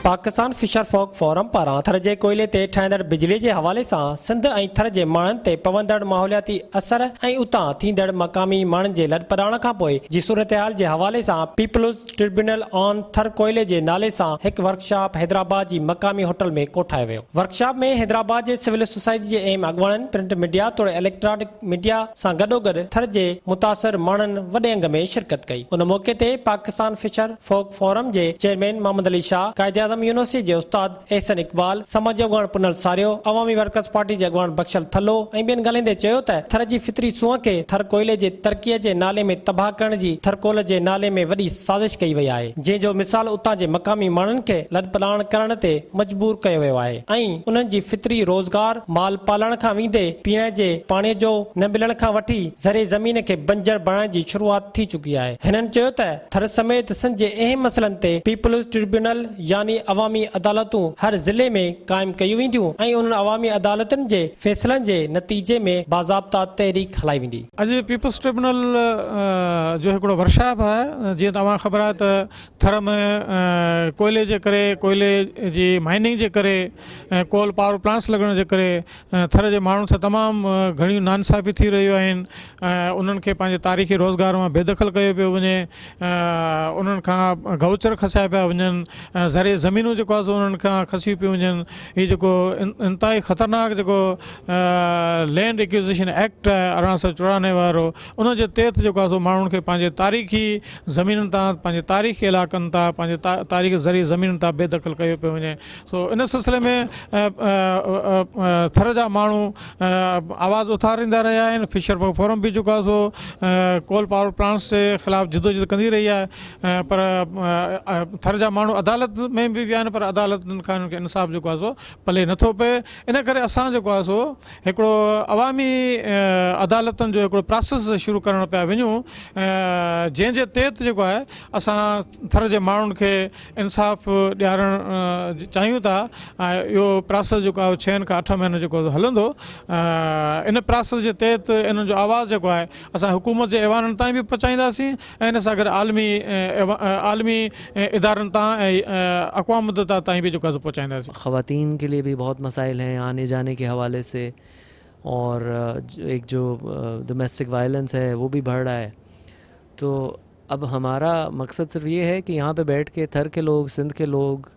Pakistan fisher folk forum پاران ٿر جي ڪوئلي تي ٺهندڙ بجلي جي حوالي سان سنڌ ۽ ٿر جي ماڻهن تي پوندڙ ماحولياتي اثر ۽ اتان ٿيندڙ مقامي ماڻهن جي لڏپلاڻ کانپوء جي صورتحال جي حوالي سان پيپلز ٽربيونل آن ٿر ڪوئلي جي نالي سان هڪ ورڪشاپ حيدرآباد جي مقامي هوٽل ۾ ڪوٺايو ويو ورڪشاپ ۾ حيدرآباد جي سول سوسائٽي جي اهم اڳواڻن پرنٽ ميڊيا توڙي اليڪٽرانڪ ميڊيا سان گڏوگڏ ٿر جي متاثر ماڻهن وڏي انگ ۾ شرڪت ڪئي. ان موقعي تي پاڪستان فشر فوڪ فورم جي چيئرمين محمد علي شاهه، قائداعظم يونيورسٽي جي استاد احسن اقبال، سماجي اڳواڻ پنهل ساريو، عوامي ورڪرز پارٽي جي اڳواڻ بخشل ٿلهو ۽ ٻين ڳالهائيندي چيو ته ٿر جي فطري سونهن کي ٿر ڪوئلي جي ترقيء جي نالي ۾ تباهه ڪرڻ جي ٿرڪول جي نالي ۾ وڏي سازش ڪئي وئي آهي، جنهن جو مثال اتان جي مقامي ماڻهن کي لڏپلاڻ ڪرڻ تي مجبور ڪيو ويو آهي. ۽ انهن جي فطري روزگار مال پالڻ کان ويندي پيئڻ جي پاڻي جو نه ملڻ کان وٺي زرعي زمين کي بنجر بڻائڻ جي شروعات ٿي چڪي آهي. هنن چيو ته ٿر سميت سنڌ جي اهم مسئلن تي پيپلز ٽربيونل يعني عوامي عدالتون هر ضلعي ۾ قائم ڪيون وينديون ۽ انهن عوامي عدالتن جي فيصلن جي نتيجي ۾ باضابطا تحريڪ هلائي ويندي. اڄ پيپلز ٽربيونل جو هڪڙو ورڪشاپ آهي جيئن ته اوهان کي خبر آهي ته ٿر ۾ ڪوئلي جي ڪري ڪوئلي جي مائننگ جي ڪري ۽ ڪول پاور پلانٽس لڳڻ جي ڪري ٿر جي ماڻهن سان تمام گهڻي نا انصافي ٿي رهيون آهن ۽ انهن کي پنهنجي تاريخي روزگار مان بي دخل ڪيو پيو وڃي انهن کان گئوچر کسايا پيا وڃن ۽ زرعي زمينون جيڪو آهي سو انهن کان کسيون پيون وڃن هي جيڪو انتهائي خطرناڪ جيڪو لينڊ اڪيوزيشن ايڪٽ ارڙهن سو چورانوي وارو انهن جي تحت جيڪو آهي سو ماڻهن کي پنهنجي تاريخي زمينن تان پنهنجي تاريخي علائقن تان پنهنجي تاريخي زرعي زمينن تان بي دخل ڪيو پيو وڃي سو ان سلسلي ۾ ٿر جا ماڻهو آواز اٿاريندا رهيا آهن فشر پاور فورم به جيڪو سو ڪول پاور پلانٽس جي خلاف جدوجھد ڪندي رهي آهي پر ٿر جا ماڻهو عدالت ۾ به ويا آهن پر عدالتن کان انصاف جيڪو آهي سو پلي نٿو پئي ان ڪري اسان جيڪو آهي سو هڪڙو عوامي عدالتن جو هڪڙو پراسيس شروع ڪرڻ پيا وڃون جنهن جي تحت جيڪو آهي اسان ٿر جي ماڻهن کي انصاف ڏيارڻ چاهيون ٿا ۽ اهو پراسيس جيڪو آهي ڇهن کان اٺ مهينو جيڪو هلندو ان پراسيس جي تحت انهن جو آواز جيڪو آهي اسان حڪومت جي ايوانن تائين به پهچائينداسين ان سان گڏ عالمي عالمي ادارن تان ۽ اقوام متحده تائين به جيڪو آهي سو پهچائينداسين. خواتين ڪي ليي ڀي بهت مسائل هين آني جاني ڪي حوالي سي اور ايڪ جو دميسٽڪ وائلنس هي وو ڀي بڙ رها هي تو اب همارا مقصد صرف يي هي ڪي يهان پي بيٺ ڪي ٿر ڪي لوگ سنڌ ڪي لوگ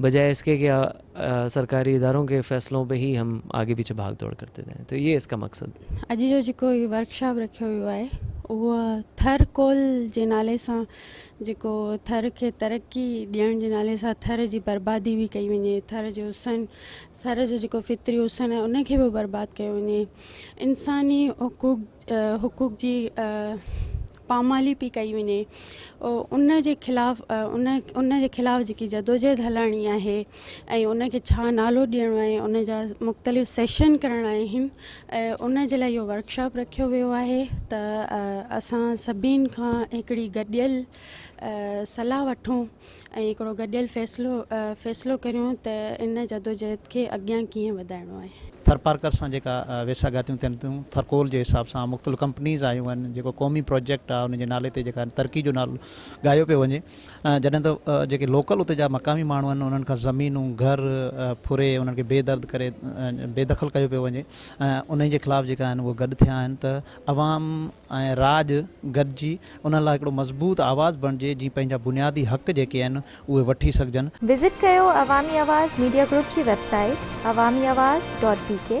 بجاء اس ڪي ڪي سرڪاري ادارون ڪي فيصلون پي هي هم آگي پيڇي ڀاگ دوڙ ڪرتي رهي تو يي اس ڪا مقصد هي. اڄ جو جيڪو هي ورڪ شاپ رکيو ويو آهي اهو ٿر ڪول جي نالي سان جيڪو ٿر کي ترقي ڏيڻ جي نالي سان ٿر جي بربادي به ڪئي وڃي ٿر جي حسن ٿر جو جيڪو فطري حسن آهي ان کي به برباد ڪيو وڃي انساني حقوق حقوق جي پامالي پئي ڪئي وڃي ان جي خلاف ان ان جي خلاف جيڪي جدوجهد هلائڻي آهي ۽ ان کي ڇا نالو ڏيڻو آهي ان جا مختلف سيشن ڪرڻا آهن ۽ ان جي لاء اهو ورڪشاپ رکيو ويو آهي ته اسان سڀني کان هڪڙي گڏيل صلاح وٺون ۽ هڪڙو گڏيل فيصلو فيصلو ڪريون ته ان جدوجهد کي اڳيان ڪيئن وڌائڻو آهي. ٿرپارڪر سان جيڪا ويساڳاتيون ٿين ٿيون، ٿرڪول جي حساب سان مختلف ڪمپنيز آيون آهن، جيڪو قومي پروجيڪٽ آهي ان جي نالي تي جيڪا ترقي جو نالو ڳايو پيو وڃي، جڏهن ته جيڪي لوڪل اتي جا مقامي ماڻهو آهن انهن کان زمينون، گهر ڦري انهن کي بي درد ڪري بي دخل ڪيو پيو وڃي ۽ انهي جي خلاف جيڪا آهن اهي گڏ ٿيا آهن ته عوام ۽ راڄ گڏجي انهن لاء هڪڙو مضبوط آواز بڻجي جيئن پنهنجا بنيادي حق جيڪي آهن اهي وٺي سگهجن. وزٽ ڪيو عوامي آواز ميڊيا گروپ جي website Awami Awaz dot بي ڪي.